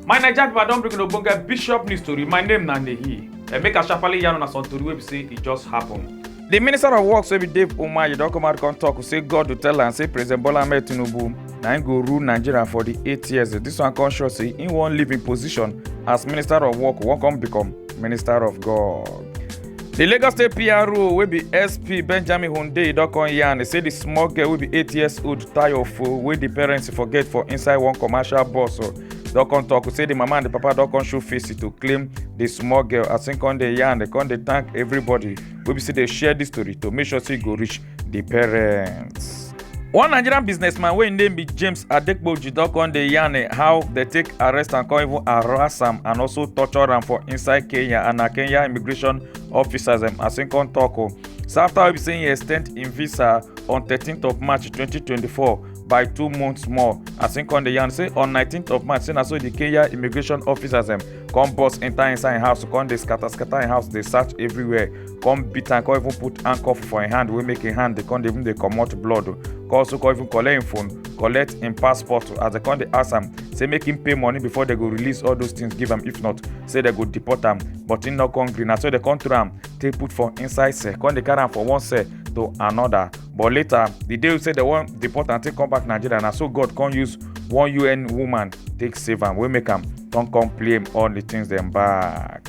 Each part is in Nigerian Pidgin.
my naija pipo i don bring una ogbonge bishop news tori my name na nehi and make i sharparly yarn una some tori wey be say e just happen. di minister of works wey be dave umahi don come out come tok say god go tell am say president bola ahmed tinubu na im go rule nigeria for di eight years dis one come show say im wan leave im position as minister of work wan come become minister of god. di lagos state pro wey be sp benjamin hunde don come yarn say di small girl wey be eight years old tayo fo wey di parents forget for inside one commercial bus oh, don come tok say di mama and di papa don come show face to claim di small girl as im come dey yarn dey come dey thank everybody wey be say dey share dis story to make sure say e go reach di parents. one nigerian businessman wey im name be james adekpoju don come dey yarn eh, how dem take arrest am come even harass am and also torture am for inside kenya and na kenya immigration officers dem as im come tok o oh. so after wey be say im extend im visa on 13th of march 2024 by two months more as im come dey yarn say on 19th of march say na so di kenya immigration officers dem come burst enta inside im house come dey scatter scatter im house dey search everywhere come beat am come even put handcuff for im hand wey make im hand dey come dey even dey comot blood o come also come even collect im phone collect im passport o as dem come dey ask am say make im pay money before dem go release all those things give am if not say dem go deport am but im no come gree na so dem come throw am take put for inside cell come dey carry am for one cell to another but later the day wey say dem wan deport am take come back nigeria na so god come use one un woman take save am wey make am come come play all the things dem back.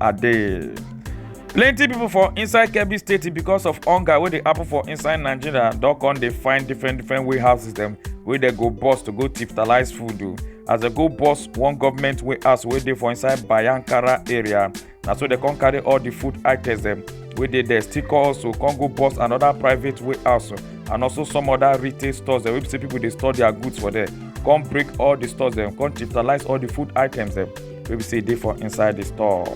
ade plenty people for inside kebbi state because of hunger wey dey happen for inside nigeria don come dey find different different warehouses dem wey dey go bus to go tiftalize food o as dem go bus one government warehouse wey dey for inside bayankara area na so dem come carry all the food items dem wey dey there still come also come go bus another private warehouse and also some other retail stores dem wey be say people dey store their goods for there come break all the stores dem come tiftalize all the food items dem wey be say dey for inside the store.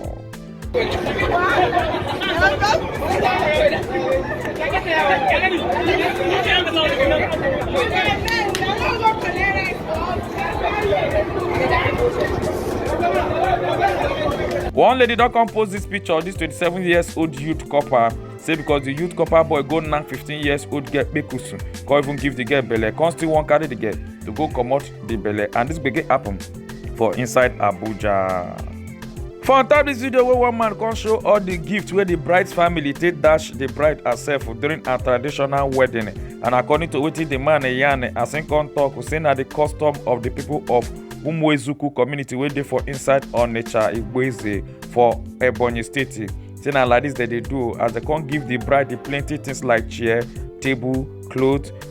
one lady don come post dis picture dis 27 years old youth copper say because di youth copper boy go knack 15 years old girl kpekusu come even give di girl belle come still wan carry di girl to go comot di belle and dis gbege happen for inside abuja for on top dis video wey one man come show all di gift wey di bride family take dash di bride herself during her traditional wedding and according to wetin di man yarn as im come tok say na di custom of di pipo of umuezuku community wey dey for inside onitsha igboeze for ebonyi state say na like dis dem dey do as dem come give di bride plenty things like chair table cloth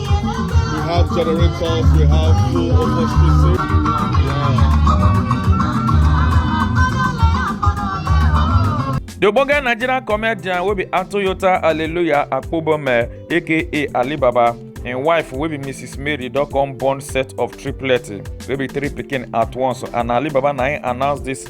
We have generators, we have full open spaces. The Ogbonge Nigerian comedian will be Atoyota Hallelujah Akpobome aka Alibaba im wife wey be mrs mary don come born set of triplets wey be three pikin at once and alibaba na im announce dis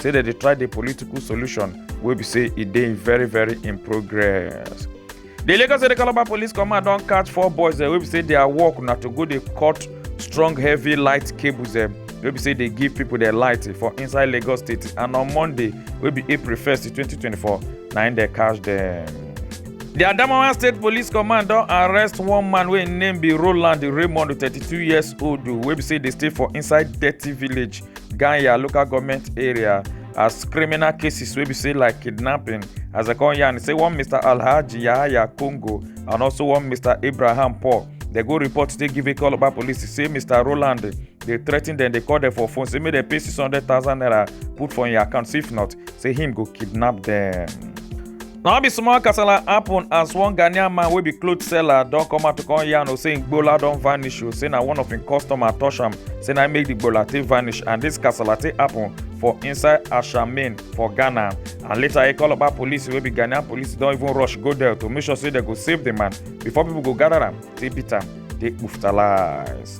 say dem dey try the political solution wey be say e dey very very in progress. The Lagos State Calabar Police Command don catch four boys dem wey be say their work na to go dey cut strong heavy light cables dem wey be say dey give people their light for inside Lagos State and on Monday wey be April 1st 2024 na im dem catch dem. The Adamawa State Police Command don arrest one man wey im name be Roland Raymond 32 years old wey be say dey stay for inside Dirty Village ganya local government area as criminal cases wey be say like kidnapping as dem come yarn say one mr alhaji yahaya congo and also one mr abraham paul dem go report today give ikoloba police say mr roland dey threaten dem dey call dem for phone say make dem pay six hundred thousand naira put for im account if not say him go kidnap dem. na be small kasala happen as one ghanaian man wey be cloth seller don come out to come yarn o say im gbola don vanish o say na one of im customer touch am say na im make the gbola take vanish and this kasala take happen for inside ashamin for ghana and later ekoloba police wey be ghanaian police don even rush go there to make sure say dem go save the man before people go gather am take beat am take kpuftalize.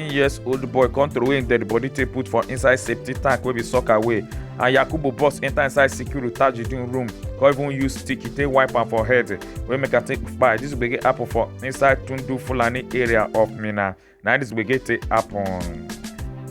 19 years old boy come throway im dead body take put for inside safety tank wey be sock away and yakubu boss enter inside sikiru tajudeen room come even use stick take wipe am for head wey make am take kpai dis gbege happen for inside tundu fulani area of minna na dis gbege take happen.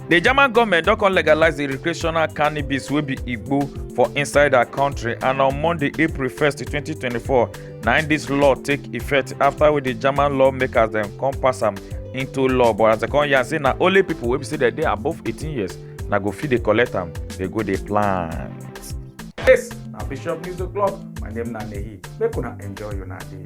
di german goment don come legalise di recreational cannabis wey be igbo for inside her kontri and on monday april 1 2024 na im dis law take effect after wey di german lawmakers dem come pass am into law but as dem come yarn say na only pipo wey be say dem dey above 18 years na go fit dey collect am dey go dey plant. yes na bishop news o'clock my name na nehi make una enjoy una day.